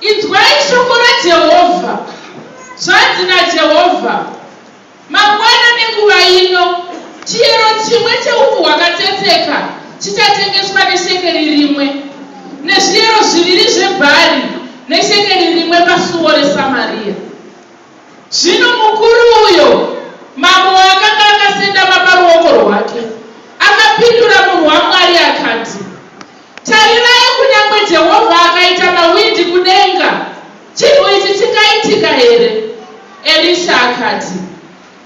Inzwai shoko raJehovha. Zvanzi naJehovha, Mangwana nenguva ino, chiyero chimwe cheupfu hwakatsetseka chichatengeswa neshekeri rimwe, nezviyero zviviri zvebhari neshekeri rimwe pasuo reSamariya. Zvino mukuru uyo mambo waakanga akasendama paruoko rwake akapindura munhu waMwari akati, Tarirai, kunyange Jehovha akaita mawindi kudenga, chinhu ichi chingaitika here? Erisha akati,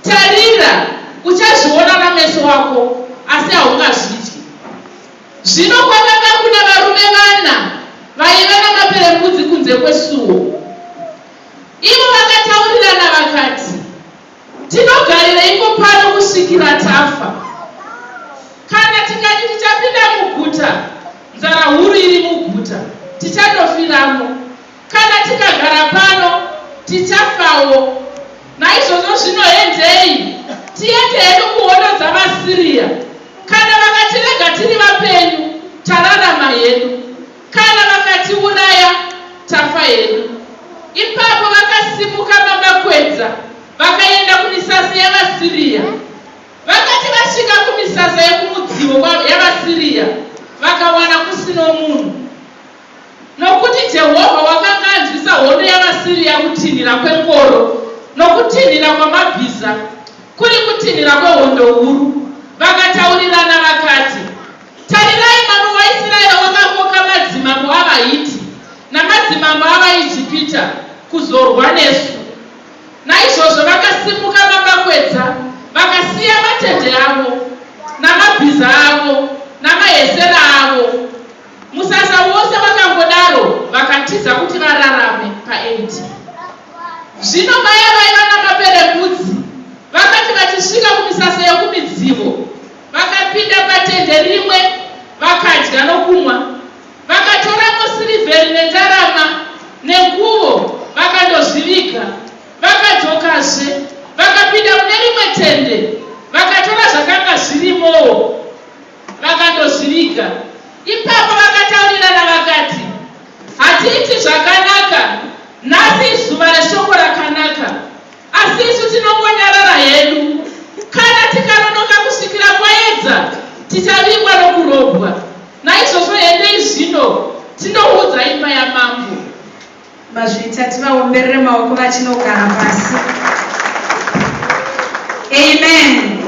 Tarira, uchazviona nameso ako, asi haungazvidyi. Zvino kwakanga kuna varume vana vaiva namaperembudzi kunze kwesuo. Ivo vakataurirana vakati, Tinogarireiko pano kusvikira tafa? Kana tikati tichapinda muguta, nzara huru iri muguta, tichatofiramo. Kana tikagara pano, tichafawo. Naizvozvo zvino hendei tiende hedu kuhondo dzavaSiria. Kana vakatirega tiri vapenyu, tararama hedu. Kana vakatiuraya tafa hedu. Ipapo vakasimuka baba Kwedza vakaenda kumisasa yavaSiriya. Vakati vasvika kumisasa yokumudzivo yavaSiriya, vakawana kusino munhu. Nokuti Jehovha wakanga anzwisa hondo yavaSiriya kutinhira kwengoro nokutinhira kwamabhiza, kuri kutinhira kwehondo huru. Vakataurirana vakati. Tarirai, mambo waIsiraeri wakakoka madzimambo avaHiti namadzimambo avaIjipita kuzorwa nesu. Naizvozvo vakasimuka mamakwedza, vakasiya matendhe avo, namabhiza avo, namahesera avo, musasa wose wakangodaro, vakatiza kuti vararame paEdhi. Zvino vaya vaiva namaperembudzi vakati vachisvika kumisasa yokumidzivo, Vakapinda patende rimwe vakadya nokumwa. Vakatoramo sirivheri nendarama nenguvo vakandozviviga. Vakadzokazve vakapinda mune rimwe tende vakatora zvakanga zvirimowo vakandozviviga. Ipapo vakataurirana vakati, Hatiiti zvakanaka nhasi, izuva reshoko rakanaka. Asi isu tinongonyarara hedu. Kana tikanonoka kusvikira kwaedza, tichavigwa nokurobwa. Naizvozvo endei zvino tinoudza imba yamambo. Mazvita, tivaomberere maoko vachinogara pasi. Amen.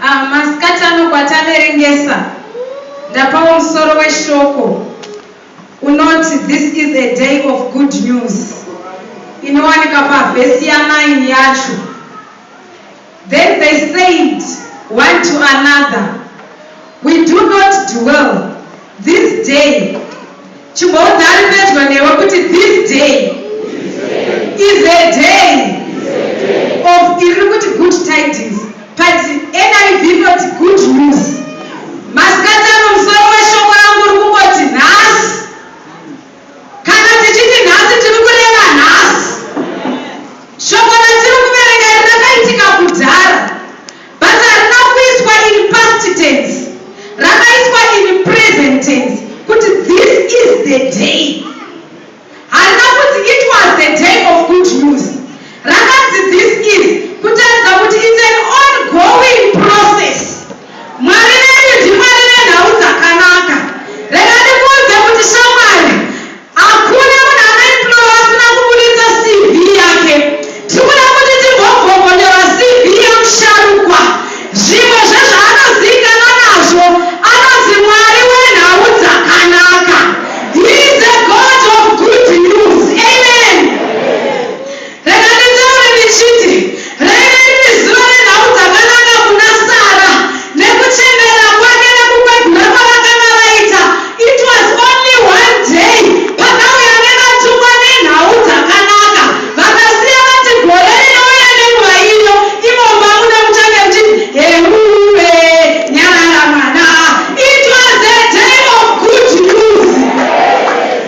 Ah, masikati ano kwataverengesa, ndapawo musoro weshoko. Unoti, This is a day of good news, inowanika pavhesi ya 9 yacho. Then they said one to another, We do not dwell this day. Chimboudza ari pedyo newe kuti this day is a day of iri kuti good tidings. But NIV inoti good news. Masikati ano musoro weshoko rangu uri kungoti nhasi. Kana tichiti nhasi tiri kureva nhasi. Shoko ratiri kuverenga iri rakaitika kudhara but harina kuiswa in past tense. Rakaiswa in present tense kuti this is the day. Hana kuti it was the day of good news. Rakanzi this is kutaridza kuti it's an ongoing process. Mwari vedu ndiMwari venhau dzakanaka. Rega ndikuudze kuti shamwari, hakuna munhu anoimplora asina kuburitsa CV yake. Tiri kuda kuti timbogogonyorwa CV yamusharukwa Zvimwe zvezvaanozivikanwa nazvo anonzi Mwari wenhau dzakanaka. He is a God of good news. Amen. Rega nditaure ndichiti, raive riri zuva renhau dzakanaka kuna Sara nekuchembera kwake nekukwegura kwavakanga vaita It was only one day pakauya nevatuma nenhau dzakanaka vakasiya vati gore rinouya nenguva ino imomo mabuda muchange muchiti heuuwe nyarara mwana it was a day of good news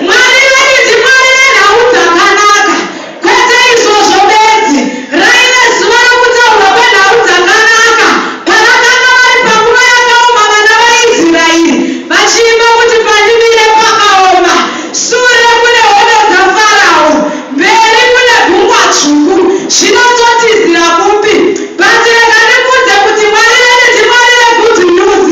Mwari vedu ndiMwari venhau dzakanaka Kwete izvozvo bedzi, raive zuva rokutaurwa kwenhau dzakanaka, pavakanga vari panguva yakaoma vana vaIsraeri vachiimba kuti pandimire pakaoma, sure kune hondo dzaFarao, mberi kune gungwa dzvuku, zvino totizira kupi? But rega ndikuudze kuti Mwari vedu ndiMwari veGood News,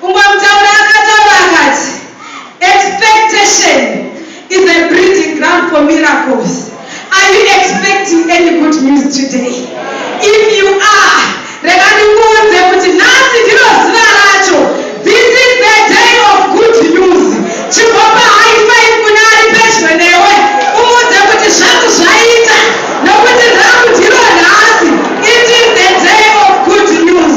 Kungokutaura akataura akati expectation is a breeding ground for miracles are you expecting any good news today if you are rega ndikuudze kuti nhasi ndiro zuva racho this is the day of good news chimbopa high five kune ari pedyo newe umuudze kuti zvangu zvaita nokuti rangu ndiro nhasi it is the day of good news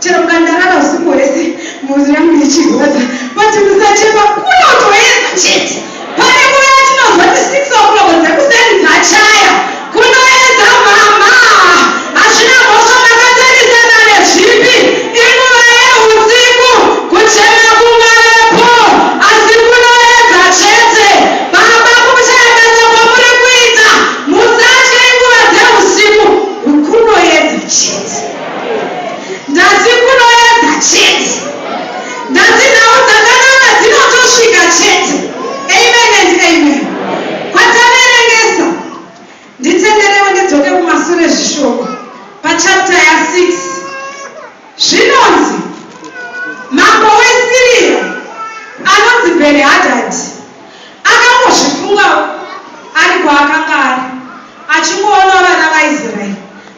Chero ukandarara usiku hwese mhuri yangu ichirwadza but musachema kunotoedza chete pane nguva yatinonzwa ti six o'clock dzekuseni dzachaya kunoedza mama hazvina mhosva makatarisana nezvipi inguva yeusiku kuchema kungavepo asi kunoedza chete baba kuchayakadza kwamuri kuita musatye inguva dzeusiku kunoedza chete Ndati kunoedza chete. Ndati nhau dzakanaka dzinotosvika chete. Amen and amen. Kwataverengesa. Nditenderewo ndidzoke kumasure zvishoko pachapter ya 6 zvinonzi mambo wesiriya anonzi Bhenihadhadhi Akangozvifunga ari kwaakanga ari, achingoona vana vaIsrael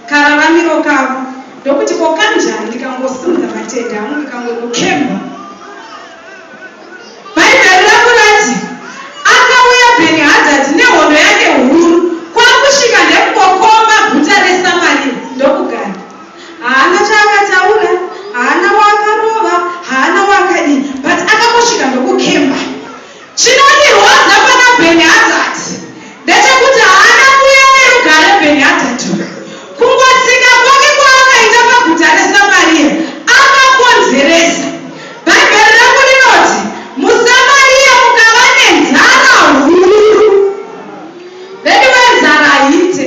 kararamiro kavo, ndokuti, Ko kanjani ndikangosimudza matendhe angu ndikangonokemba? Bhaibheri ravo rati, Akauya Bhenihadhadhi nehondo yake huru kwakusvika ndekungokomba guta reSamaria ndokugara. Haana chaakataura, haana waakarova, haana waakadii but akangosvika ndokukemba. Chinondirwadza pana Ben Hazard ndechekuti haana kuuya nerugare Ben Hazard uyu. Kungotsika kwake kwaakaita paguta reSamaria akakonzeresa. Bhaibheri rangu rinoti muSamaria mukava nenzara huru. Veduwee nzara haiite.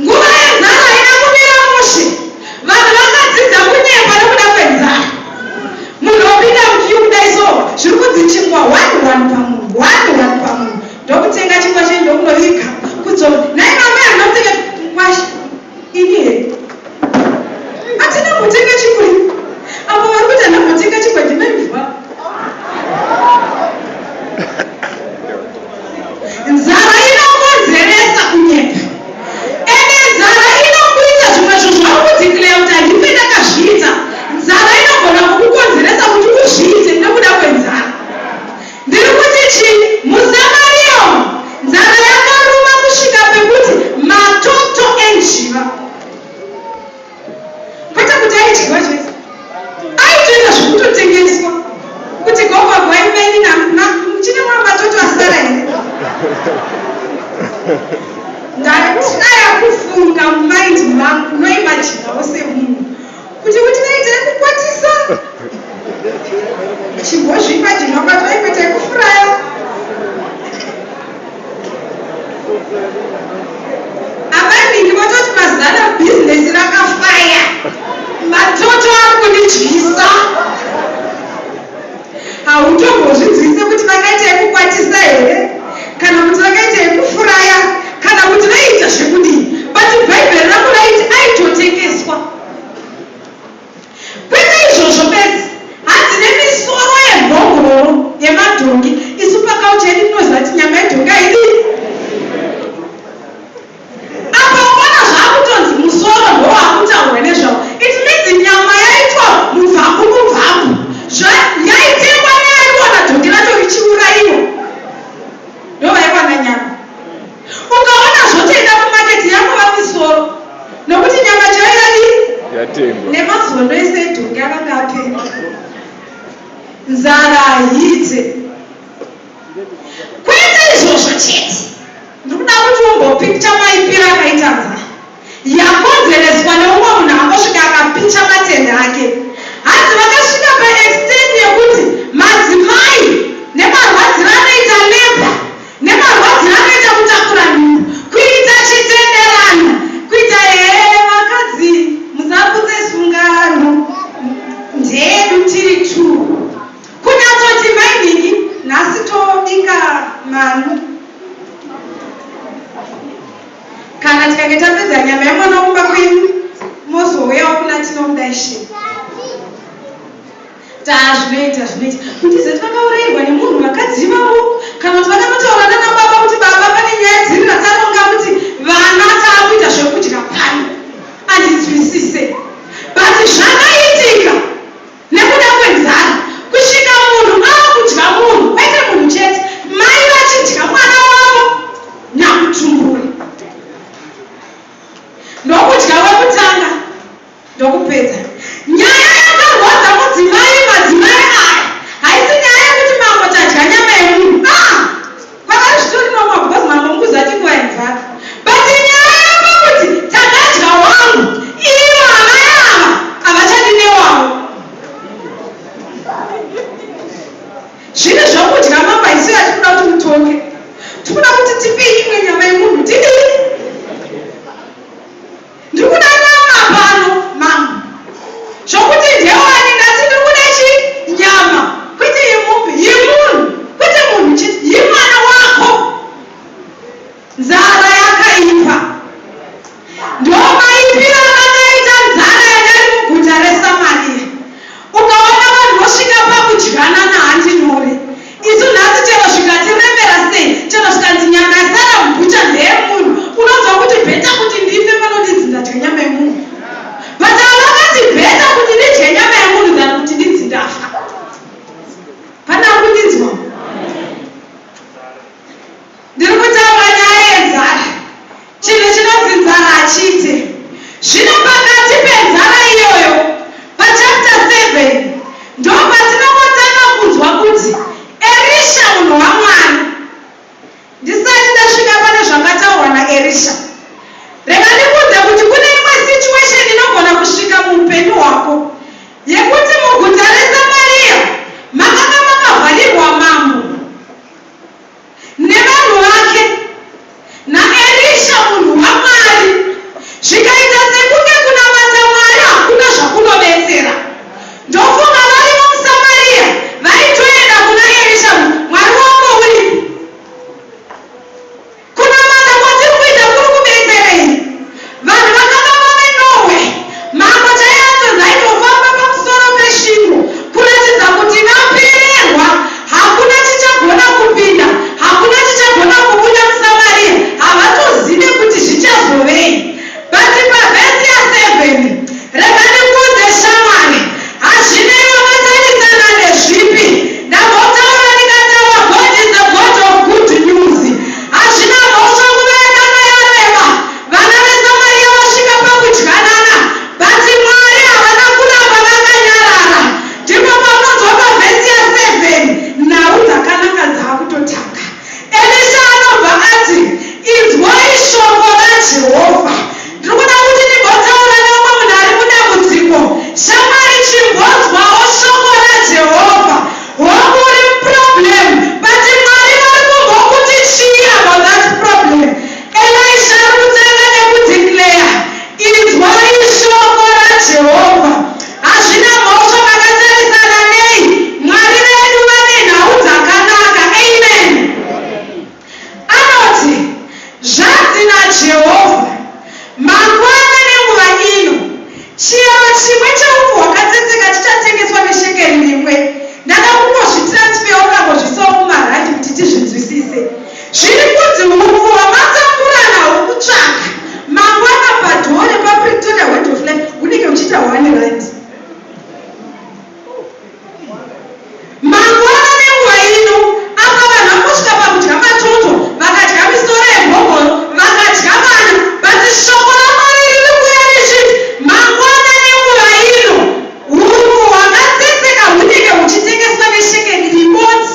Nguva yenzara haina kumira mushe. Vanhu vakadzidza kunyepa nekuda kwenzara. Munhu opinda muqueue kudai so zviri kunzi chingwa one one pamunhu one one pamunhu ndokutenga chingwa chenyu ndokuno viga kudzora. Nhai mamai handina kutenga mukwasha ini here. Hatina kumbotenga chingwa iwe. Avo vari kuti hana kumbotenga chingwa ndine mvwa. Nzara inokonzeresa kunyepa. Ende nzara inokuita zvimwe zvinhu zvauri kudeclare kuti handife ndakazviita. Nzara inogona kukukonzeresa kuti uzviite nekuda kwenzara. Ndiri kuti chii? Musamarium nzara yakaruma kusvika pekuti matoto enjiva. kwete kuti aidyiwa chete aitoita zvekutotengeswa kuti gogo rwai maini namna muchine mwa matoto asara here ndataya kufunga mumaindi mangu noimajinawo semunhu kuti kuti vaitai kukwatisa chimbozvipa chinonga taikwaitai kufuraya amai mingi vototi mazana bhizinesi rakafaya matoto ari kundidyisa Hautombozvinzwisise kuti vakaita yekukwatisa here kana kuti vakaita yekufuraya kana kuti vaiita zvekudii but bhaibheri rangu raiti aitotengeswa. Kwete izvozvo bedzi, hanzi nemisoro yemhongororo yemadhongi isu pakaucha yedu tinoziva kuti nyama yedhongi haidii. Apa ukaona zvakutonzi musoro ndowakutaurwa nezvawo it means nyama yaitwa mubvaku mubvaku zva yaitengwa neaiwana dhongi racho richiuraiwa ndovaiwana nyama. Ukaona zvotoenda kumarket yakova misoro nokuti nyama chaiyo yadii? Yatengwa. Nemazuva ndoise dhongi akanga apengwa. Nzara haite. Kwete izvozvo chete, ndikuda kuti umbopicha maipiro akaita nzara yakonzereswa neumwe munhu angosvika akapicha matende ake. Hanzi vakasvika paextent yekuti madzimai nemarwadziro anoita labour nemarwadziro anoita kutakura nhumbu kuita chitenderano kuita hee vakadzi musaputse sungano ndeyedu tiri two. Kunyatoti mainini nhasi tobika manu. Kana tikange tapedza nyama yemwana kumba kwenyu mozouyawo kuna tinomuda ishe. Taa zvinoita zvinoita kuti zeti vakaurayirwa nemunhu vakadzi ivavo kana kuti vakanotaura nana baba kuti baba pane nyaya dziri rakaronga kuti vana taakuita zvekudya pano andinzwisise but zvakaitika Nekuda kwenzara kusvika munhu akudya munhu kwete munhu chete mai vachidya mwana wavo nyakutumbura ndokudya wekutanga ndokupedza nyaya yakarwadza mudzimai madzimai aya haisi nyaya yekuti mambo tadya nyama yemunhu aah. Kwavari zvitori normal because mambo mukuziva chingwaini dzake but nyaya yava kuti takadya wangu ivo amai ava havachadi newavo zvine zvokudya mambo haisi yatikuda kuti mutonge tikuda kuti tipei imwe nyama yemunhu tidii Ndikuda nama pano mambo. Zvokuti ndewani ndati ndikuda chi nyama kwete yemombe yemunhu kwete munhu chete yemwana wako nzara yakaipa ndomaipira vakaita nzara yadai muguta reSamaria ukaona vanhu vosvika pakudyanana handi nyore Isu nhasi chero zvikati remera sei chero zvikanzi nyama yasara mubhucha ndeyemunhu unonzwa kuti better kuti ndife pano ndinzi ndadya nyama yemunhu but ava vakati better kuti ndidye nyama yemunhu than kuti ndinzi ndafa. Pane akundinzwa? Ndiri kutaura nyaya yenzara. Chinhu chinonzi nzara hachiite. Zvino pakati penzara iyoyo, pachapter seven, ndopatinongotanga kunzwa kuti Erisha munhu waMwari. Ndisati ndasvika pane zvakataurwa naErisha, rega ndikuudze kuti kune imwe situation inogona kusvika muupenyu hwako yekuti muguta reSamaria makanga makavharirwa mambo. nevanhu vake naErisha munhu waMwari zvikaita sekunge kunamata Mwari hakuna zvakunobetsera. Ndofunga varivo muSamariya vaitoenda kuna Erisha kuti Mwari wako uripi? Kunamata kwatiri kuita kuri kubetserei? Vanhu vakafamba veNorway, mambo chaiye atonzi aitofamba pamusoro pesvingo kuratidza kuti vapererwa, hakuna chichagona kupinda, hakuna chichagona kubuda muSamaria, havatozive kuti zvichazovei. But pavhesi ya 7, rega ndikuudze shamwari, hazvinei wakatarisana nezvipi, ndambotaura ndikataura God is a God of good news. Hazvina mhosva nguva yakanga yareba vana veSamaria vasvika pakudyanana but Mwari havana kuramba vakanyarara ndipo paunonzwa pavhesi ya 7 nhau dzakanaka dzakutotanga. Elisha anobva ati inzwai shoko raJehovha Ndiri kuda kuti timbotaura neumwe munhu ari mudambudziko. Shamwari, chimbonzwawo shoko raJehovha. Hongu, uri muproblem, but Mwari vari kumbokuti chii about that problem? Elisha ari kutanga nekudeclare, Inzwai shoko raJehovha. Hazvina mhosva makatarisana nei, Mwari vedu vane nhau dzakanaka. Amen. Anoti, Zvanzi naJehovha, Mangwana nenguva ino, chiyero chimwe cheupfu hwakatsetseka chichatengeswa neshekeri rimwe. Ndada kungozvitiransfeyawo ndambozviisawo mumarandi kuti tizvinzwisise. Zviri kunzi hupfu hwamatambura nahwo kutsvaga mangwana padhoo repaPretoria Word of Life hunenge huchiita one randi. Mangwana nenguva ino apa vanhu vangosvika pakudya matoto vakadya misoro yemhongoro vakadya vana but shoko raMwari riri kuuya richiti mangwana nenguva ino hururu hwakatsetseka hunenge huchitengeswa neshekeri rimodzi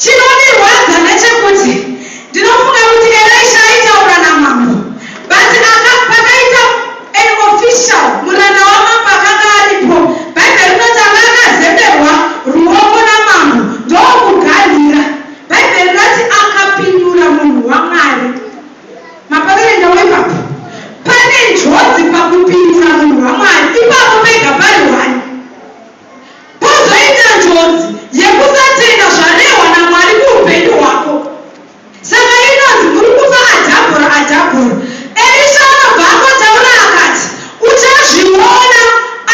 Chinondirwadza ndechekuti ndinofunga kuti Elisha aitaura namambo but aka pakaita an official muranda wamambo akanga aripo bible rinoti anga akazemberwa ruoko namambo ndokuganhira bible rinoti akapindura munhu wamwari mapaverengawo ipapo pane njodzi pakupindura munhu wamwari ipapo pega pari one Pozoita njodzi yekusatenga zvarehwa naMwari kuhupenyu hwako. Saka inonzi muri kufa adhabhura adhabhura. Erisha anobva angotaura akati, Uchazviona,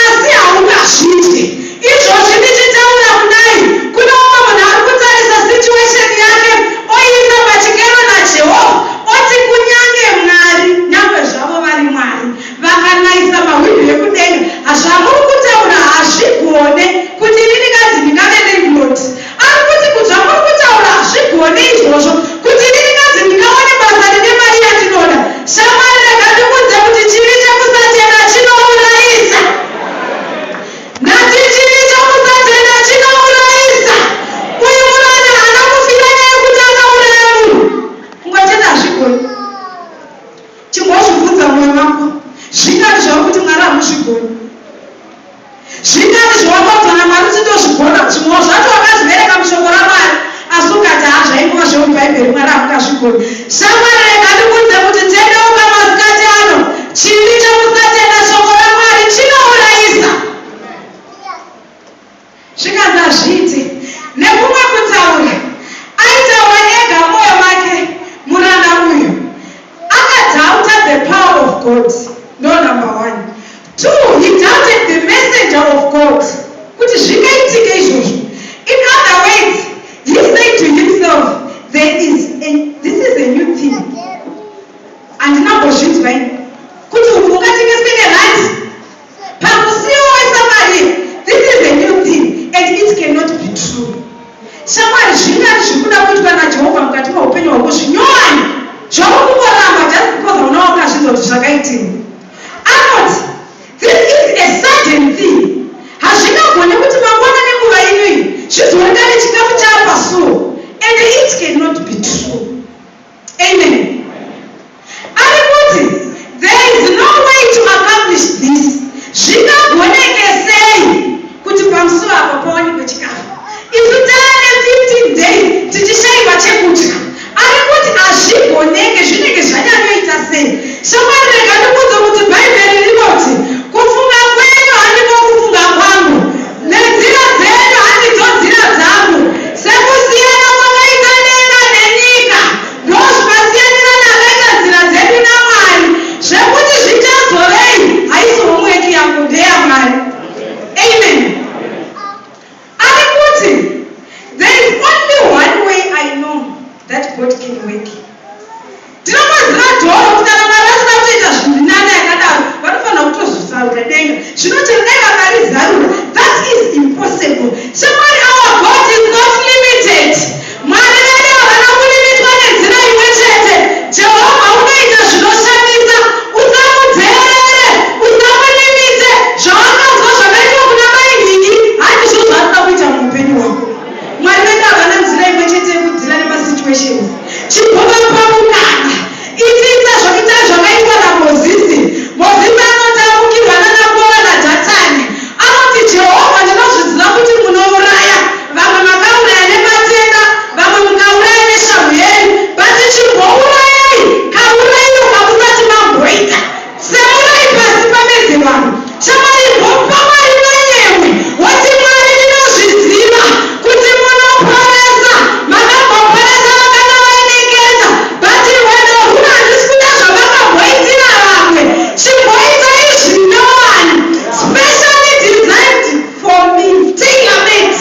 asi haungazvidye. Izvozvi ndichitaura kudai, kune umwe munhu ari kutarisa situation yake oiisa pachikero naJehovha, oti kunyange Mwari, nyangwe zvavo vari Mwari, Vakanaisa mahwindi ekudenga ha zvamuri kutaura hazvigone kuti inini kanzi ndingave landlord ari kuti ku zvamuri kutaura hazvigone izvozvo kuti inini kanzi ndingawane basa rine mari yandinoda shamwari rega ndikuudze kuti chivi chekusatenda chinourayisa ndati chivi chekusatenda chinourayisa uyu muranda haana kufira naye kuti akauraya munhu kungotenda hazvigoni Chimbozvibvunza mumoyo mako, Zvinyari zvauri kuti Mwari hamuzvigoni? Zvinyari zvawakaudzwa naMwari kuti ndozvigona? Zvimwewo zvacho wakazviverenga muShoko raMwari asi ukati, Haa, zvaingova zvemuBhaibheri, Mwari hamungazvigoni. Shamwari, rega ndikuudze kuti tendeuka masikati ano. Chivi chekusatenda Shoko raMwari chinourayisa. Zvikanzi hazviite. Nekumwe kutaura, aitaura ega moyo make muranda uyu. Aka doubter the power of God no number one. Two, he doubted the messenger of God kuti zvingaitike izvozvo. In other words, he said to himself there is a, this is a new thing. Handina mbozvinzwa ini. Kuti uku ungatengeswe nerandi. Pamusiwo weSamaria this is a new thing and it cannot be true shamwari zvingani zviri kuda kuitwa naJehovha mukati meupenyu hwako zvinyowani zvauri kungoramba just because hauna wakazvinzwa kuti zvakaitirwa anoti this is a sudden thing hazvingagone kuti mangwana nenguva ino iyi zvizoonekane chikafu chaapasuo and it cannot be true Amen. Ari kuti there is no way to accomplish this, zvingagoneke sei kuti pamusuo apo pawanikwe chikafu isu taane 15 days tichishaiwa chekudya. Ari kuti hazvigoneke, zvinenge zvanyanyoita sei. Shamwari rega ndikuudze kuti Bhaibheri rinoti kufunga kwenyu handiko kufunga kwangu. Nenzira dzenyu handidzo nzira dzangu, sekusiyana kwakaita denga nenyika, ndozvakasiyanira ndakaita nzira dzedu naMwari, zvekuti zvichazovei haisi homework yangu ndeyaMwari. Amen. Ari kuti, There is only one way I know that God can work. Ndinovhura door kuti kana Mwari vachida kutoita zviri nani yakadaro vanofanira kutozvizarura denga zvino chero dai vakarizarura that is impossible Shamwari our God is not limited Mwari vedu havana kulimitwa nenzira imwe chete Jehovha unoita zvinoshamisa usamudheerere usamulimite zvawakanzwa zvakaitwa kuna mai Nhingi handizvo zvaanoda kuita muupenyu hwako Mwari vedu havana nzira imwe chete yekudzira nema situations. Chimbovapa mukana. Itiita zvakita zvakaitwa na Mozisi. Mozisi anoti amukirwa nana Kora na Dhatani. Anoti Jehovha ndinozviziva kuti munouraya. Vamwe makauraya nematenda. Vamwe mukauraya neshamhu yenyu. But chimbourayai kaurairo kamusati mamboita. Semurai pasi pamedze vanhu. Shamwari imbopa Mwari manyemwe woti Mwari ndinozviziva kuti munoporesa makamboporesa vakangavainengedza but rwendo rwuno handisi kuda zvamakamboitira vamwe chimboitai zvinyowani specially designed for me tailor made.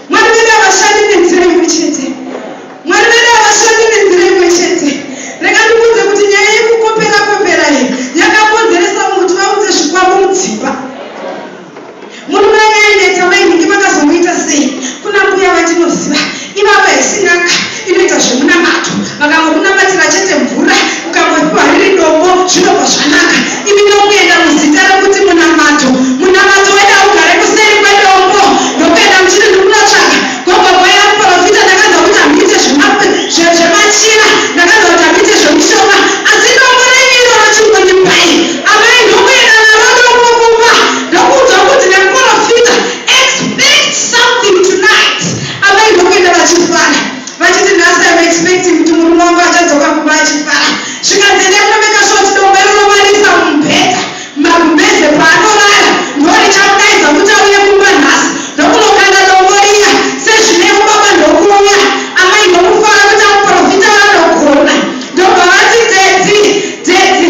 Mwari vedu havashandi nenzira imwe chete. Mwari vedu havashandi nenzira imwe chete. Rega ndikuudze kuti nyaya yekukopera kopera iyi yakakonzeresa mumwe kuti vaunze zvikwambo mudzimba. Murume anga aineta mainhingi vakazomuita sei? Kuna mbuya vandinoziva ivava hisi n'anga Inoita zvemunamato vakangokunamatira chete mvura ukangopiwa riri dombo zvinobva zvanaka imi ndokuenda muzita rekuti munamato munamato wedu haugare kuseri kwedombo ndokuenda muchiri ndikunotsvaga gogo boya muporofita ndakanzwa kuti hamuite zvemachira ndakanzwa kuti hamuite zvemushonga asi dombo renyu iroro chingondipai amai ndokuenda naro dombo kumba ndokuudzwa kuti nemuporofita expect something tonight Amai ndokuenda vachifara vachiti nhasi I'm expecting kuti murume wangu achadzoka kumba achifara zvikanzi endai kunomeka shoti dombe rinomarisa mumubhedha magumbeze paanorara ndorichamudaidza kuti auye kumba nhasi ndokunokanda dombo riya sezvinevo baba ndokuuya amai ndomufara kuti amuprofita vanogona ndobva vati dzedzi dzedzi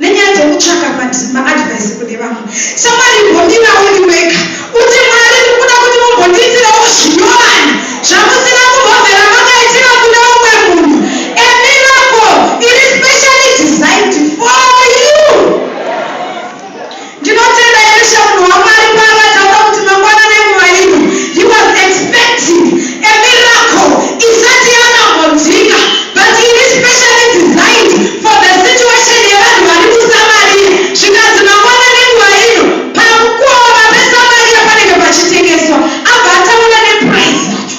nenyaya dzekutsvaka madhi maadvice kune vamwe samwari imbomirawo iri wega uti mwari ndikuda kuti mumbondiitirawo zvinyowani zvamusina kumbomvera makaitira kune umwe munhu a miracle iri specially designed for you Ndinotenda Elisha munhu waMwari paakataura kuti mangwana nenguva ino he was expecting a miracle isati yakambonzwika but iri specially designed for the situation yevanhu vari kuSamaria zvikanzi mangwana nenguva ino pamukova peSamaria panenge pachitengeswa abva ataura neprice yacho.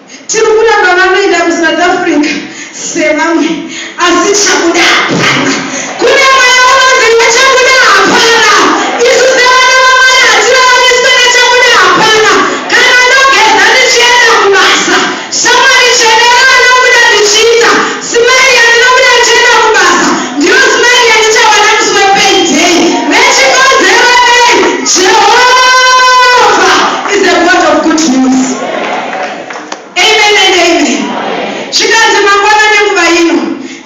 Tiri kuramba vanoenda kuSouth Africa sevamwe asi chabuda hapana. Kune vaya vanonzi nechabuda hapana. Isu sevana vaMwari hatiraraniswe nechabuda hapana. Kana ndogeza ndichienda kubasa, shamwari tsvene ravanobuda ndichiita smile yandinobuda ndichienda kubasa ndiyo smile yandichawana musi wepayday. Vechikonzero nei? Jehovah is a God of good news. amen and amen zvikanzi mangwana nenguva ino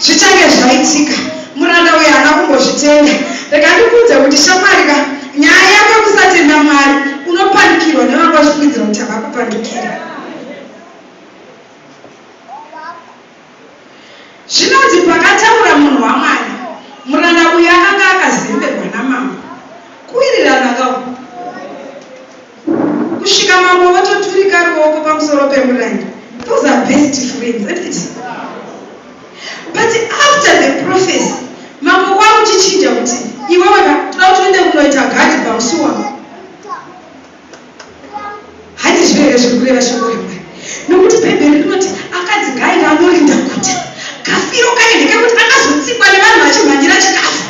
zvichange zvaitika muranda uyo haana kumbozvitenda reka ndikuudze kuti shamwari ka nyaya yako yekusatenda mwari unopanikirwa nevanga vachifungidzira kuti havakupandukira Zvinonzi pakataura munhu waMwari, muranda uyu akanga akazemberwa namambo, kuwirirana ka uku, kusvika mambo vototurika ruoko pamusoro pemuranda. Those are best friends, isn't it? But after the prophecy, mambo kwakuchichinja kuti iwewe ka toda kuti uende kunoita gadi pamusi wangu. Handizvo here zviri kureva shoko reMwari? Nokuti Bhaibheri rinoti, Akadzi ngaaive anorinda guta. Kafiro kaye ndekekuti akazotsikwa nevanhu vachimhanyira chikafu.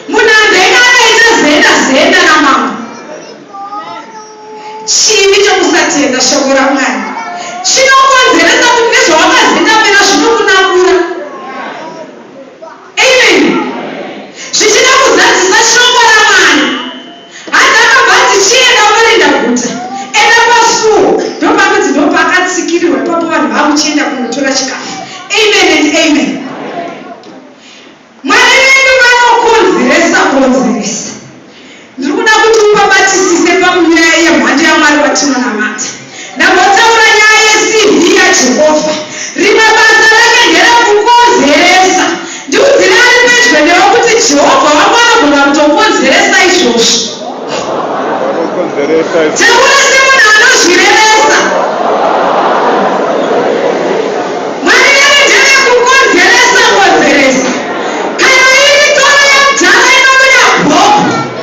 Munanda ega akaita zenda zenda namambo. Chivi chokusatenda shoko raMwari chinokonzeresa kuti nezvawakazendamira zvinokunakura. Amen. Zvichida kuzadzisa shoko raMwari. Hanzi akabva ati chienda unorinda guta enda pasuo ndopanonzi ndopakatsikirirwa ipapo vanhu vakuchienda kunotora chikafu amen and amen mwari vedu vanokonzeresa konzeresa ndiri kuda kuti ubabatisise pamunyaya yemhando yamwari watinonamata Ndambotaura nyaya yeCV yaJehovha. Rimwe basa rake nderekukonzeresa. Ndiudzire ari pedyo newe kuti Jehovha wangu anogona kutokonzeresa izvozvo. Taura semunhu anozvirevesa. Mwari vedu ndevekukonzeresa konzeresa. Kana iri toro yemudhara inobuda bhobho,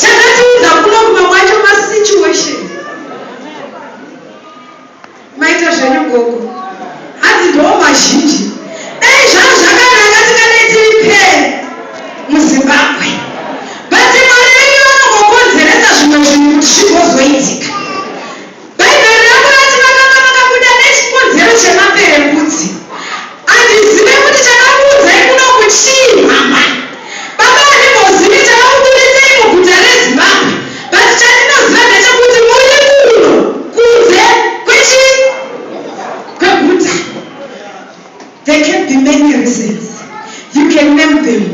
Chakatiudza kuno kumwe kwacho ma situation. Maita zvenyu gogo. Hanzi ndoo mazhinji. Dai zvanga zvakanaka tingadai tiri pfee muZimbabwe. But Mwari vedu vanongokonzeresa zvimwe zvinhu kuti zvigozoitika. Bhaibheri ravo rati vakanga vakabuda nechikonzero chemaperembudzi. Handizive kuti chakakuudzai kunoku chii mhamha. Baba handimbozivi chakakuburitsei muguta reZimbabwe but chandinoziva ndechekuti muri kuno kunze kwechi kweguta. There can be many reasons. You can name them.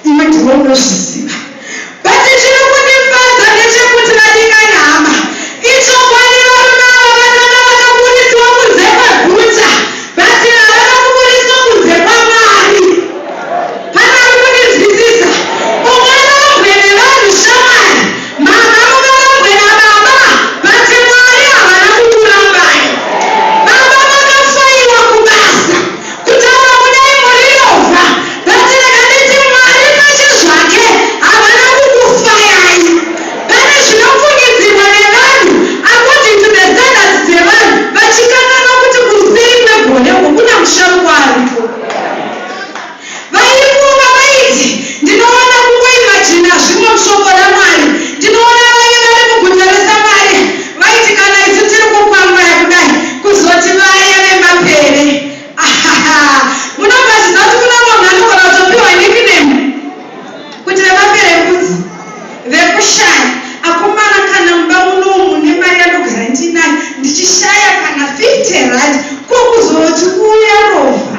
Iwe ndiwe unozviziva. But chiri kundifadza ndechekuti vadikani hama. Ichokwadi varume ava vatanga vakaburitswa kunze kweguta. But havana kuburitswa kunze kwaMwari. Pane ari kundinzwisisa? Ungava ugwe nevanhu shamwari. Mama muvarambwe nababa but Mwari havana kukurambai. Baba makafaiwa kubasa. Kutaura kudai muri rovha but rega nditi Mwari pachezvake havana kukufayai. Pane zvinofungidzirwa nevanhu according to the standards dzevanhu vachikanganwa kuti kuseri kwegore uko kuna musharukwa aripo. Vaifunga vaiti, Ndinowana kungoimajina zvimwe muShoko raMwari. Ndinowana vaive vari muguta reSamaria vaiti, Kana isu tiri kukwangwaya kudai, kuzoti vaya vemapere. Ahaha! Munobva zviziva kuti kune umwe munhu anogona kutopiwa nickname kuti vemapere mbudzi, vekushaya. Akomana, kana mumba muno umu mune mari yandogara ndiinayo, ndichishaya kana 50 rand, ko kuzoti uya rovha.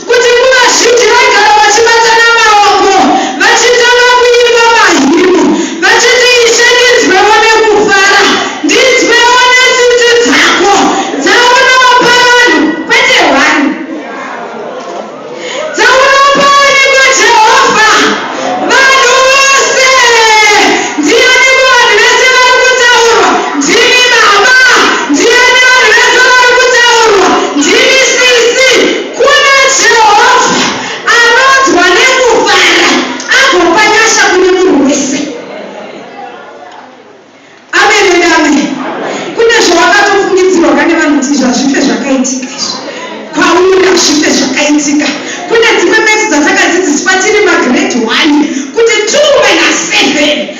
Kuti nguva zhinji vaigara vachibatana maoko vachitanga kuimba mahymn vachiti, Ishe, ndinzwewo nekufara, ndinzwewo netsitsi dzako dzaunopa vanhu, kwete hwani, dzaunopa aniko Jehovha? Vanhu vose. Ndiani muvanhu vese vari kutaurwa? Ndimi Baba. Ndiani vanhu vese vari kutaurwa? Ndimi Sisi. Kuna Jehovha, anonzwa nekufara, agopa nyasha kune munhu wese. Amen and amen. Kune zvawakatofungidzirwa kane vanhu kuti izvi hazvife zvakaitika izvi. Kwauri hazvife zvakaitika. Kune dzimwe maths dzatakadzidziswa tiri magrade one kuti two minus seven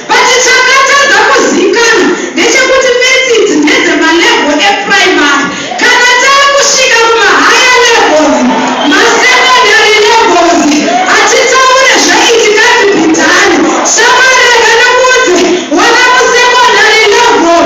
But chakatadza kuzikanwa ndechekuti maths idzi ndedze ma level e primary kana takusvika kuma higher levels ma secondary levels hatitaure zve itikadzi bidhani shamwari reganamudze wana mu secondary level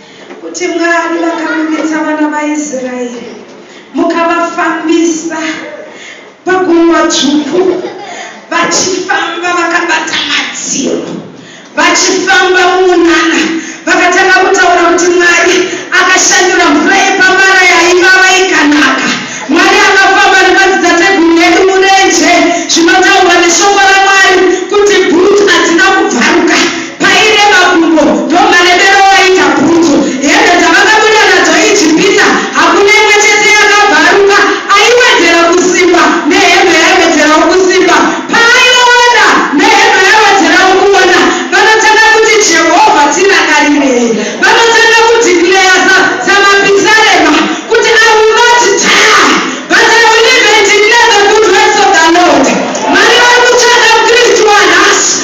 Kuti Mwari vakaburitsa vana vaIsraeri mukavafambisa paGungwa Dzvuku vachifamba vakabata madziro vachifamba mumunana vakatanga kutaura kuti Mwari akashandura mvura yepamara yaivava ikanaka. Mwari akafamba nemadzitateguru edu murenje zvinotaurwa neshoko raMwari kuti bhutsu hadzina kubvaruka Pairema gumbo ndomaremero waita bhutsu. Hembe dzavakabuda nadzo ijipisa hakuna imwe chete yakabvaruka. Aiwedzera kusimba nehembe yaiwedzerawo kusimba. Paaiona nehembe yaiwedzerawo kuona. Vanotanga kuti Jehovha tirangarirei. Vanotanga kudeclarer sa samapisarema kuti I will not die but I will live and declare the good works of the Lord. Mwari vari kutsvaga mukristu wanhasi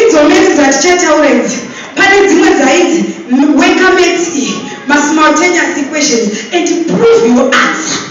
Idzo maths dzatichatawura idzi pane dzimwe dzaidzi weka maths iyi ma simultaneous equations and prove your answer.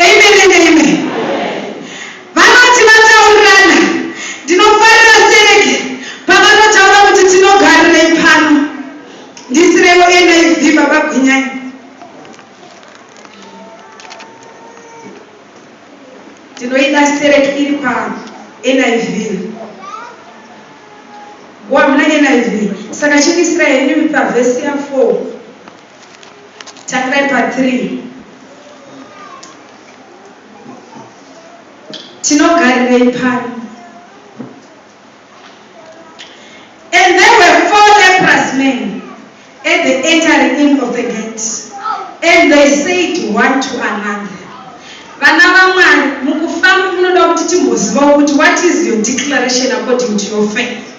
Amen and amen. Vanoti vataurirana. Ndinofarira Serge pavanotaura kuti tinogarirei pano. Ndisirewo NIV baba Gwinyai. Ndinoida Serge iri pa NIV. Wamna NIV. Saka chindisira henyu pa verse ya 4. Tangirai pa 3. Tinogarirei pano? And there were four leprous men at the entering in of the gate, and they said one to another, vana vamwari mukufamba munoda kuti timbozivawo kuti what is your declaration according to your faith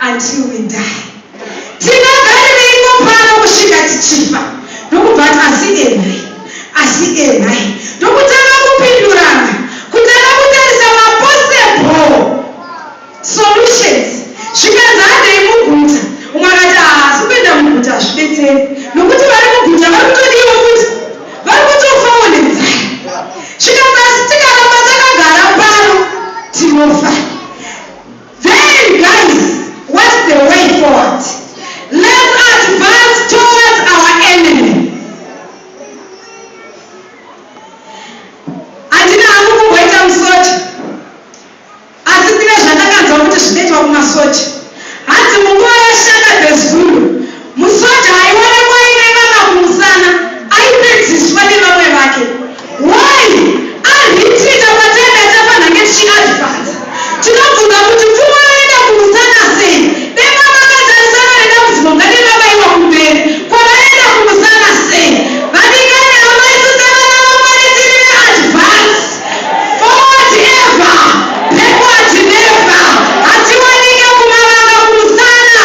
until we die tingagarireiko pano kusvika tichifa ndokubva ati asi enhai asi enhai ndokutanga kupindurana kutanga kutarisa mapossible solutions zvikanzi handei muguta umwe akati haasi kuenda muguta hazvibetseri nokuti vari muguta vari kutodiwa futi vari kutofawo nenzara zvikanzi asi tikaramba takagara pano tinofa Then guys what's the way forward let's advance towards our enemy handina hangu kumboita musoja asi kune zvandakanzwa kuti zvinoitwa kumasoja hanzi munguva yashaka the zulu Musoja aiona kwaine vana kumusana aipedziswa nevamwe vake why arhitinga pataive tafa nhange tichi advance tinobvunza kuti pfuma roenda kumusana sei dema makatarisana nedambudziko ngarirabaiwa kumberi kwaraenda kumusana sei vadikani amai sisa vana vamwari tiri ve advance forward ever backward never hatiwanike kumavanga kumusana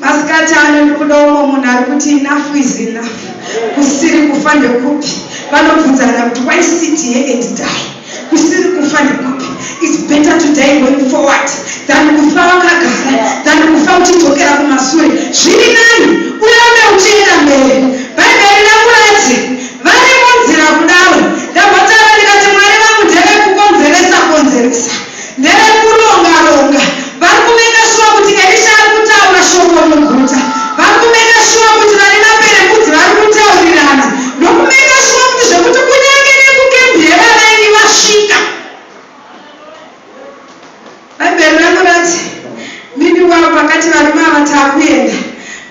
Masikati ano ndikuda umwe munhu ari kuti enough is enough, kusiri kufa ndekupi? Vanobvunzana kuti why sit here and die? Kusiri kufa ndekupi? It's better to die going forward than kufa wakagara than kufa uchidzokera kumasure. Zviri nani urambe uchienda mberi. Bhaibheri rangu rati vari munzira kudaro. Ndambotanga ndikati Mwari vangu ndevekukonzeresa konzeresa. Ndevekuronga ronga. Vari kumaker sure kuti Elisha ari kutaura shoko muguta. Vari kumaker sure kuti vane maperembudzi vari kutaurirana. Ndokumaker sure kuti zvekuti kunyange nekucamp yevavaeni vasvika. Bhaibheri rangu rati Mimi wavo vakati varume ava takuenda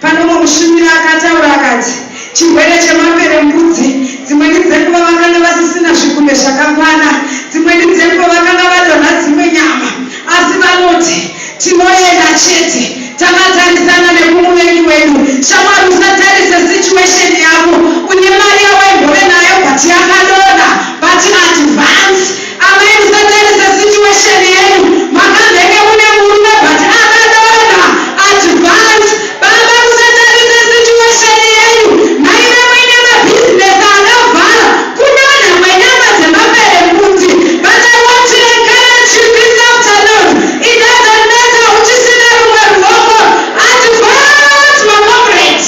pane umwe mushumiri akataura akati chirwere chemaperembudzi dzimweni dzenguva vakanga vasisina zvigunwe zvakakwana dzimweni dzenguva vakanga vadonha dzimwe nyama asi vanoti tinoenda chete takatarisana nekumuvengi wedu shamwari usatarise situation yako une mari yawaimbove nayo but yakadonha but advance Amai musatarisa situation yenyu makazenge mune murume but akadonha advance baba musatarisa situation yenyu maive muine mabusiness akavhara kudonha kwenyama dzemaperembudzi but I want to encourage you this afternoon it doesn't matter uchisina rumwe ruoko advance ma comrades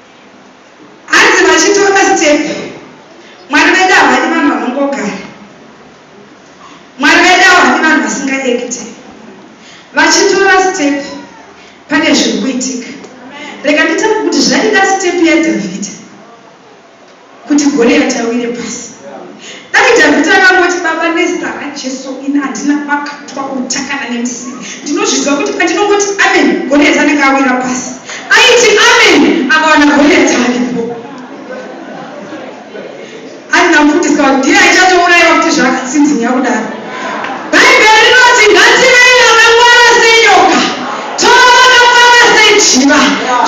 Hanzi vachitora step mwari vedu havadi vanhu vanongogara mwari vedu havadi vanhu vasingaekite vachitora step pane zviri kuitika rega nditaure kuti zvaida step yadhavhidha kuti Goliati awire pasi. Dai Dhavhidhi akangoti, Baba, nezita raJesu, ini handina pakatwa uta kana nemusivi. Ndinozviziva kuti pandinongoti amen, Goliati anenge awira pasi. Aiti amen, akawana Goliati aripo. Handina kufundiswa kuti ndiye aichatouraiwa kuti zvakatsinzinya kudaro. Bhaibheri rinoti ngativei vakangwara senyoka, tova vakangwara sejiva.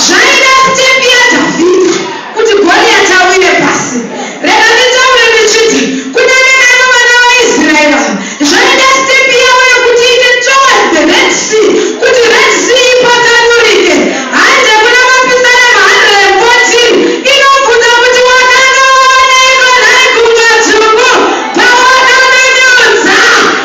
Zvaida step yaDhavhidhi Kuti Goriati awire pasi. Rega nditaure ndichiti, kunyange naivo vana vaIsraeri ava, zvaida step yavo yekuti iite towards the Red Sea kuti Red Sea ipatsanurike. Hanzi kuna mapisarema 114 inobvunza kuti wakanga wavaneiko nhai Gungwa Dzvuku pawakamenyudza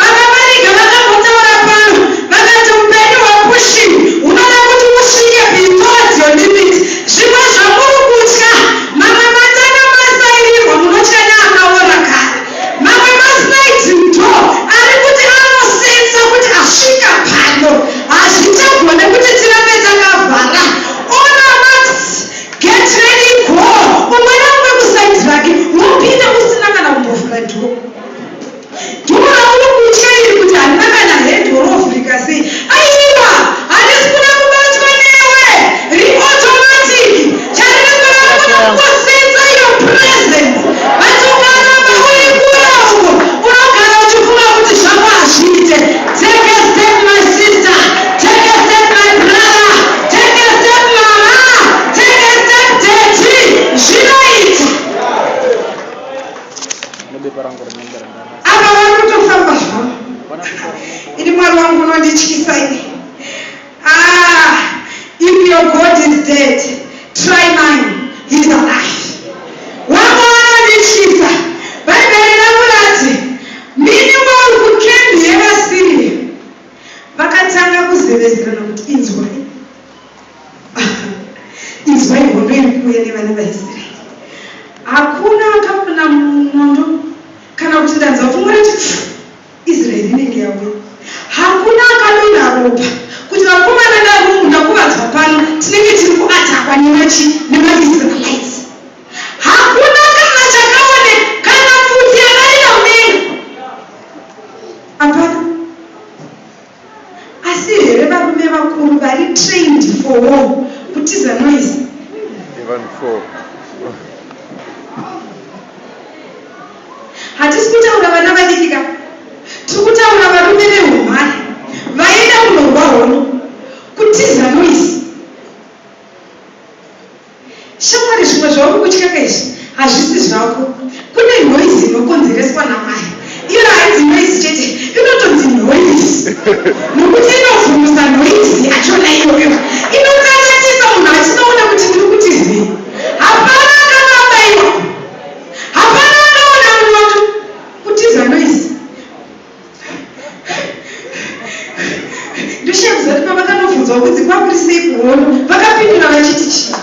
VaKamarika vakambotaura pano vakati hupenyu hwaPushkin hunoda kuti usvike be towards your limit. Zvimwe zvamuri kutya mamwe matanga masairirwa munotya neakaora kare. Mamwe masliding door ari kuti anosensa kuti asvika pano. Hazvichagone kuti tirambe takavhara. All our marks get ready go. Umwe naumwe kuside rake wopinda usina kana kumbovhura door. Dora uri kutya iri kuti harina kana head or ovhurika sei? Aiwa! Harisi kuda kubatwa newe! Ri automatic! Chariri kuda kuda kukosetsa your presence but ukaramba uri kure uko unogara uchifunga kuti zvako hazviite. Take a step my sister! Take a step my brother! Take a step mama! Take a step daddy! Zvinoita! apa vari kutofamba zvavo ini mwari wangu unondityisa ini ah, if your god is dead try mine he's alive wangu unondityisa bhaibheri rangu rati mini wari kukembi yevasiriya vakatanga kuzevezerana kuti inzwai Inzwai hondo iri kuuya nevana vaIsraeri. Hakuna akapona munondo kana kuti ndanzwa pfumo rati pfu, Israeri inenge yauya. Hakuna akadonha ropa kuti vakomana naRumu ndakuvadzwa pano tinenge tiri kuatakwa nemachi nemaIsraelites. Hakuna kana chakaone kana pfudzi yakarira mudenga. Hapana. Asi here varume vakuru vari trained for war kutiza noise. Even for. Hatisi kutaura vana vadiki ka. Tiri kutaura varume vehumhare vaenda kunorwa hondo kutiza noise. Shamwari zvimwe zvauri kutyaka izvi hazvisi zvako. Kune noise inokonzereswa namai. Iyo hainzi noise chete, inotonzi noise. Nokuti inovhumusa noise yachona iyoyo. Inokanyanyisa munhu achinoona kuti ndiri kuti zii. Hapana akanga abaiwa. Hapana akaona munondo. Kutiza noise. ndoshevu zati pavakandobvunzwa kunzi kwakuri sei kuhono vakapindura vachiti chii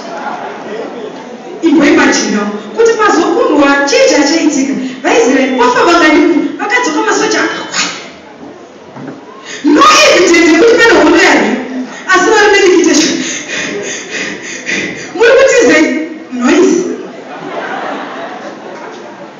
imboimajinawo kuti pazokundwa chii chachaitika vaisraeri vafa vanganiku vakadzoka masoja akakwai no evidence yekuti pane hono yari asi vari medikitation muri kutizei noise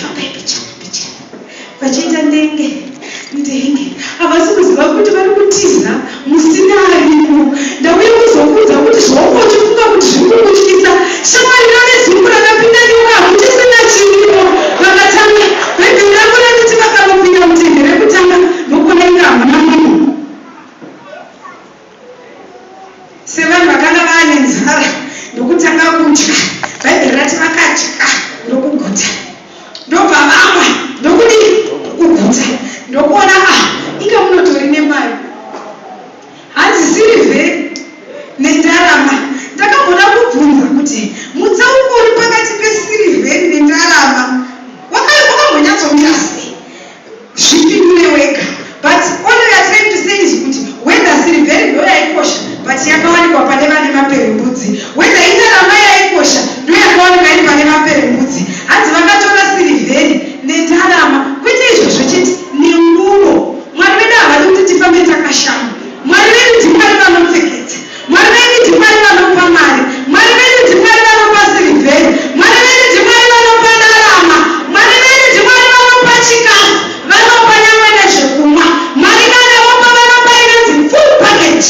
Fambai mbichana mbichana vachiita ndenge ndenge havasi kuziva kuti vari kutiza musina arimo. Ndauya kuzokuudza kuti zvaunga uchifunga kuti zviri kukutyisa shamwari rave zungu rakapinda nyoka hakuchisina chirimo. Vakatanga bhaibheri ravo randiti vakangopinda mutende rekutanga ndokuona inga hamuna munhu. Sevanhu vakanga vaane nzara ndokutanga kudya, Bhaibheri rati vakadya ndokuguta. Ndobva vamwa ndokudii? Kuguta. Ndokuona a ah, inga munotori nemari. Hanzisiri vhe nendarama. Ndakamboda kubvunza kuti mutsauko uri pakati pesirivheri nendarama wakambonyatsomira sei? Zvipi kune wega. But all we are trying to say is kuti whether sirivheri ndoyaikosha but yakawanikwa pane vane maperembudzi, whether indarama yaikosha ndoyakawanikwa iri pane maperembudzi. Hanzi vakatora sirivheri nendarama, kwete izvozvo chete, nenguvo. Mwari vedu havadi kuti tifambe takashama. Mwari vedu ndiMwari vanopfekedza. Mwari venyu ndiMwari vanopa mari. Mwari venyu ndiMwari vanopa sirivheri. Mwari venyu ndiMwari vanopa ndarama. Mwari venyu ndiMwari vanopa chikafu. Vanopa nyangwe nezvekumwa. Mwari kana vopa vanopa inonzi full package.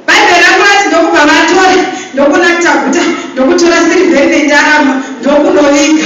Bhaibheri rangu rati ndokubva vatora ndokunakta guta ndokutora sirivheri nendarama ndokunoviga.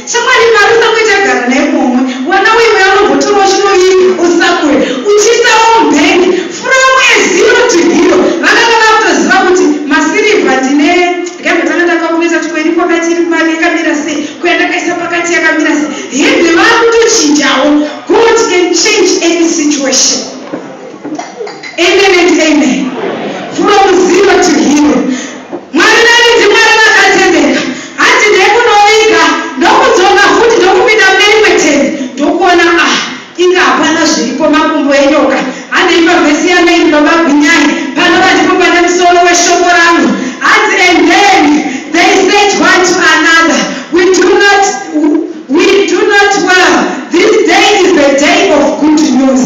Chokwadi Mwari usamboe tagara naye muhomwe wana uye mweya unombotorawo chinoviga usamboe uchiisawo mubank from a zero to hero vakanga vakutoziva kuti masirivha ndine rega tanga takalkuleta kuti ko iri kwakati iri mari yakamira sei ko yandakaisa pakati yakamira sei hembe vakutochinjawo God can change any situation amen and amen from zero to hero Mwari venyu ndiMwari vakatendeka. Hanzi ndekunoviga ndokudzoka futi ndokupinda mune rimwe tende ndokuona ah inga hapana zviripo makumbo enyoka handei pavhesi yamain baba Gwinyai panova ndipo pane musoro weshoko rangu hanzi and then they said one to another we do not we do not well this day is the day of good news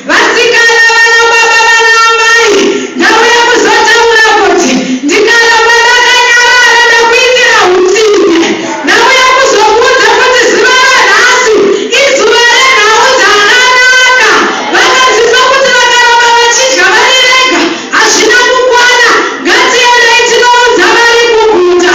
Vasikana vana baba vana amai ndauya kuzotaura kuti ndikaramba ndakanyarara ndakuitira hutsinye. Ndauya kuzokuudza kuti zuva ranhasi izuva renhau dzakanaka. Vakadzidza kuti vakaramba vachidya vari vega hazvina kukwana. Ngatiendei tinoudza vari kuguta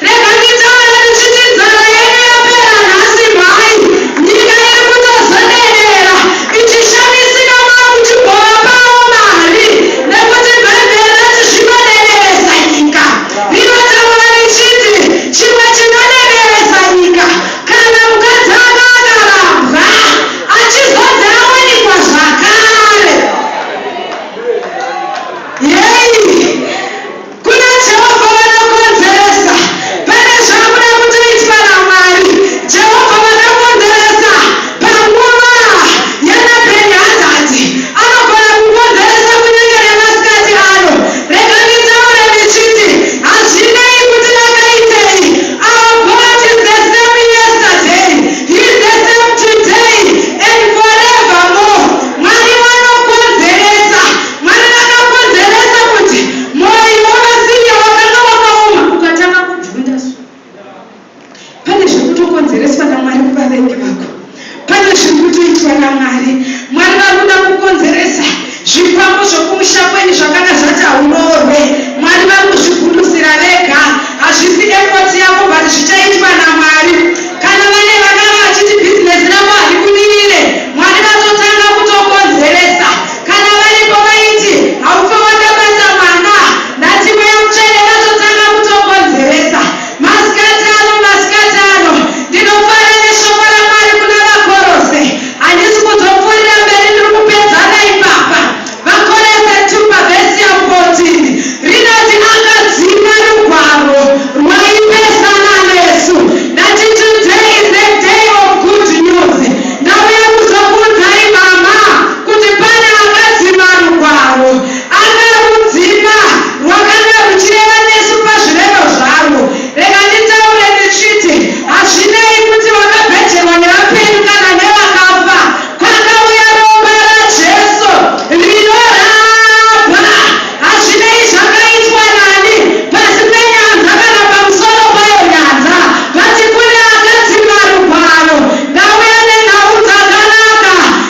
Rega nditaure ndichiti nzara yenyu yapera nhasi mhai. Nyika iri kutozoderera ichishamisika kwakuchibhora pawo mari nekuti bhaibheri rati zvinodereresa nyika. Rinotaura richiti chimwe chinodereresa nyika kana mukadzi anga akarambwa achizonzi awanikwa zvakare. Yei! Kuna Jehovha vanokonzeresa. Pane zvakuda kutoitwa naMwari, Jehovha vanokonzeresa. Panguva yana Bhenihadhadhi, anogona kukonzeresa kunyange nemasikati ano. Rega nditaure ndichiti, hazvinei kuti vakaitei, our God is the same yesterday, He is the same today and forevermore. Mwari vanokonzeresa. Mwari vakakonzeresa kuti mwoyo wavaSiria wakanga wakaoma ukatanga kubvunda. So pane zviri kutokonzereswa naMwari kuvavengi vako. Pane zviri kutoitwa naMwari. Mwari vari kuda kukonzeresa zvikwambo zvokumusha kwenyu zvakanga zvati hauroorwe. Mwari vari kuzvigundusira vega. Hazvisi effort yako but zvichaitwa naMwari. Kana vane vakanga vachiti business rako haribudirire, Mwari vatotanga kutokonzeresa Kana varipo vaiti haufe wakabata mwana ndati mweya mutsvene vatotanga kutokonzeresa maskati ano maskati ano ndinofara neshoko raMwari kuna vaKorose handisi kuzopfuurira mberi ndiri kupedzana ipapa vaKorose two pavesium fourteen rinoti akadzima rugwaro rwaipesana nesu ndati today is a day of good news ndauya kuzokuudzai mama kuti pane akadzima rugwaro akarudzima rwakanga ruchireva nesu pazvirevo zvarwo. Rega nditaure ndichiti, hazvinei kuti vakabhejerwa nevapenyu kana nevakafa, kwakauya Ropa raJesu rinorapa. Hazvinei zvakaitwa nani, pasi penyanza kana pamusoro payo nyanza, vati kune akadzima rugwaro. Ndauya nenhau dzakanaka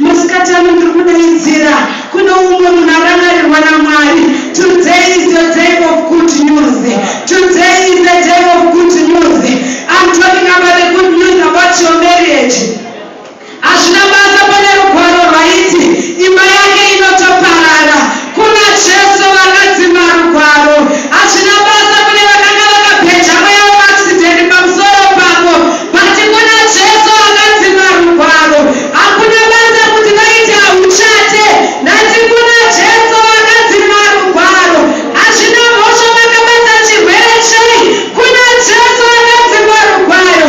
Masikati ano ndiri kudaidzira kune umwe munhu arangarirwa naMwari. Today is your day of good news. Today is the day of good news. I'm talking about the good news about your marriage. Hazvina basa pane rugwaro rwaiti imba yake inotoparara. Kuna Jesu vakadzi marugwaro hazvina basa kune vakanga vakabheja mweya weaccident pamusoro pako but kuna Jesu vakadzi marugwaro hakuna basa kuti vaiti hauchate ndati kuna Jesu vakadzi marugwaro hazvina mhosva vakabata chirwere chei kuna Jesu vakadzi marugwaro